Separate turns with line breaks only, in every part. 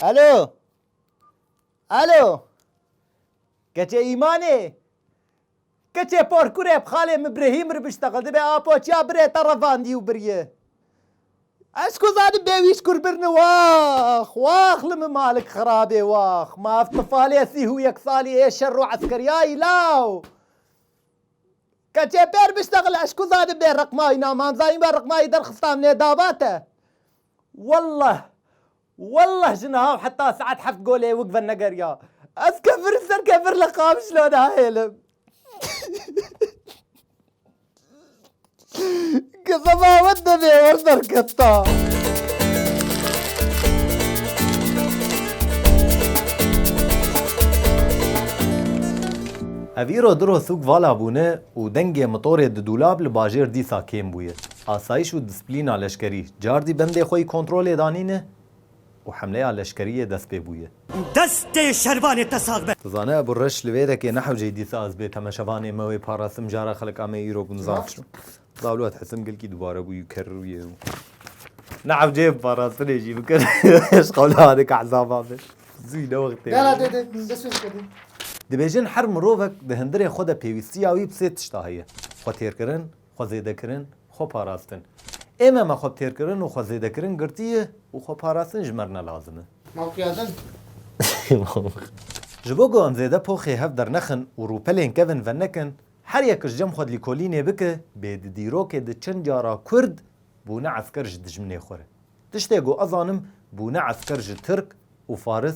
Alo. Alo. Keçê îmanê. Keçê por kurê bi xalê min birehî min ribişte xwe dibe a poçiya birê te revandî û biriye. Ez ku zanim bê wî ji kur birine wax wax li min malik xirabê wax ma ev tifalê sîh û yek salî ê şer û eskeriyayî law keçê pê ribişte xwe ez ku zanim bê reqmayî na mam zanîn be reqmayî derxistan nê dava te. Welleh welleh ji niha û heta saet heft golê wik ve negeriya. Ez kefir û ser kefir li Qamişlo nahêlim. Ke baba we tevê wer derketa. Ev îro diro sûk vala bûne û dengê mitorê di dûlab li bajêr dîsa kêm bûye. Asayîş û displîna leşkerî cardî bendê xwe yî kontrolê danîne û hemleya leşkeriyê dest pê bûye. Destê şervanê te sag be. Ti zane Ebu Reş li vê rekê nehewcey dîsa ez bê temeşevanê me wê parastim jara xelek amê îro bûn zaf çû. Dawlat Hetim gilkî dubare bûyû kerrûyê û nehewceyê bi parastinê jî bikir ji qewla hadika hesaba be zûyî ne wextê be. Gera dê dê dest pê bike dê. Dibêjin her mirovek di hindirê xwe de pêwîstiya wî bi sê tişta heye, xwetêrkirin, xwe zêdekirin, xwe parastin. Ême me xwe bi têrkirin û xwe zêdekirin girtiye û xwe parastin ji me re ne lazim e. Mafiyadin. Ji bo ku em zêde poxê hev dernexin û rûpelên kevin venekin, her yek ji cem xwe di lîkolînê bike bê di dîrokê di çend cara kurd bûne esker ji dijminê xwe re. Tiştê ku ez zanim bûne esker ji tirk û faris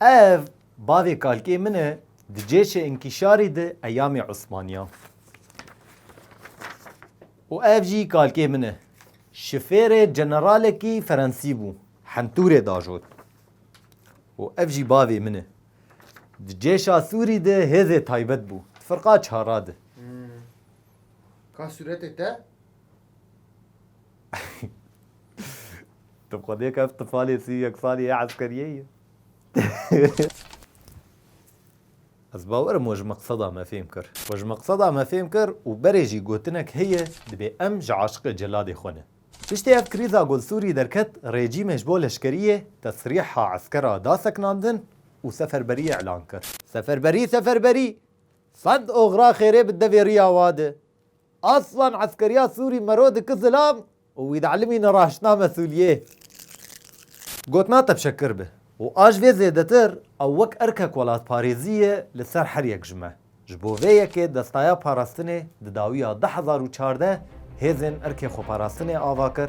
Ev bavê kalkê min e di cêşê inkîşarî de eyamê Osmaniyan. Û ev jî kalkê min e. Şifêrê ceneralekî Ferensî bû. Hentûrê diajot. Û ev jî bavê min e. Di cêşa Sûrî de hêzê taybet bû. Di firqa çara de. Ka sûretê te? Tu xwe nêka ev tifalê sî yek salî yê eskeriyê ye. Ez bawer im we ji meqseda me fêm kir. We ji meqseda me fêm kir û berê jî gotinek heye dibê em ji aşiqê celadê xwe ne. Piştî ev krîza golsûrî derket rejîmê ji bo leşkeriyê tesrîha eskera da sekinandin û seferberiyê îlan kir. Seferberî seferberî! Sed oxira xêrê bi devê riya wade. Aslan eskeriya Sûrî mero diki zilam û wî dielîmî ne raştname Sûliyê. Got na tepşe kir be û a ji vê zêdetir ew wek erkek welatparêzî ye li ser her yek ji me. Ji bo vê yekê Destaya Parastinê di dawiya du hezar û çardeh hêzên erkê xweparastinê ava kir,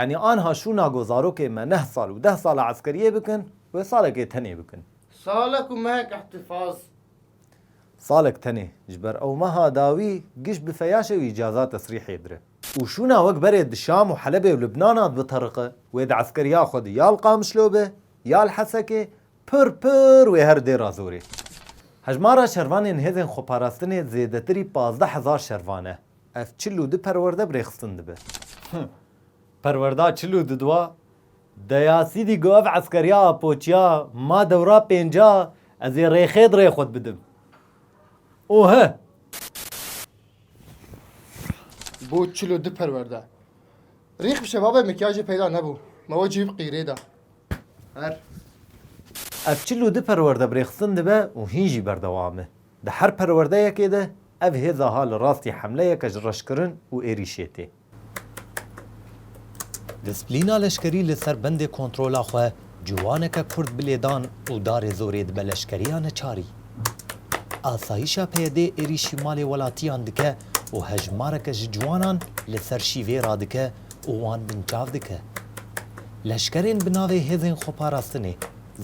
Yanî anha şûna ku zarokên me neh sal û deh sala eskeriyê bikin, wê salekê tenê bikin. Salek û mehek îhtîfaz. Salek tenê ji ber ew meha dawî giş bi feyaşê û îcaza tesrîhê dire. Û şûna wek berê di Şam û Helebê û Lubnana dibitariqe, wê di eskeriya xwe di ya li Qamişlo be, ya li Hesekê, Pir pir wê her dê razorê. Hejmara şervanên hêzên xweparastinê zêdetirî pazdeh hezar şervan e. Ev çil û du perwerde bi rêxistin dibe. Hih. Perwerda çil û du dua. Deya Sîdî got ev eskeriya apoçiya ma dewra pênca ez ê rêxê di rê xwe di bidim. Û hih. Bo çil û du perwerde. Rîx bi şebabê mikyajê peyda nebû. Me we cîb qîrê da. Her. Ev çil û du perwerde bi rêxistin dibe û hîn jî berdewam e. Di her perwerdeyekê de ev hêza ha li rastî hemleyeke ji reşkirin û êrîşê tê. Displîna leşkerî li ser bendê kontrola xwe Ciwaneke kurd bi lêdan û darê zorê dibe leşkeriya neçarî. Asayîşa PYD'ê êrîşî malê welatiyan dike û hejmareke ji ciwanan li ser şîvê radike û wan binçav dike. Leşkerên bi navê Hêzên Xweparastinê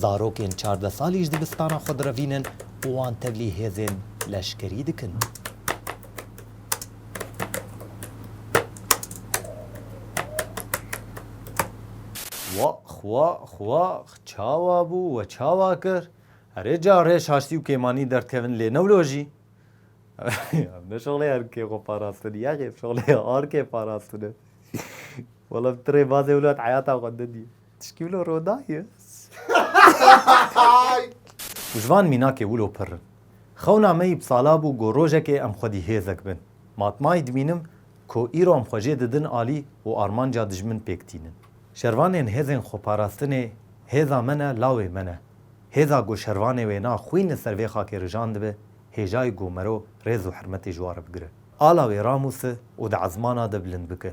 zarokên çardeh salî ji dibistana xwe direvînin û wan tevlî hêzên leşkerî dikin. Wa xwa xwa çawa bû we çawa kir? Herê ca rê şaştî û kêmanî derdkevin lê newlojî? Ev ne şoxlê erkê xwe parastin yexê şoxlê arkê parastin e. Wela ti rêbazê wilat heyata xwe nedî. Tişkî wilo roda ye. Ji van mînakê wilo pirr in. Xewna me yî bi sala bû got rojekê em xwedî hêzek bin. Matmayî dimînim ku îro em xwe jê didin alî û armanca dijmin pêk tînin. Şervanên hêzên xweparastinê hêza me ne lawê me ne. Hêza ku şervanê wê na xwîn li ser vê xakê rijan dibe, hêjayî ku mero rêz û hirmetê ji wa re bigire. Ala wê ramûsi û di ezmana de bilind bike.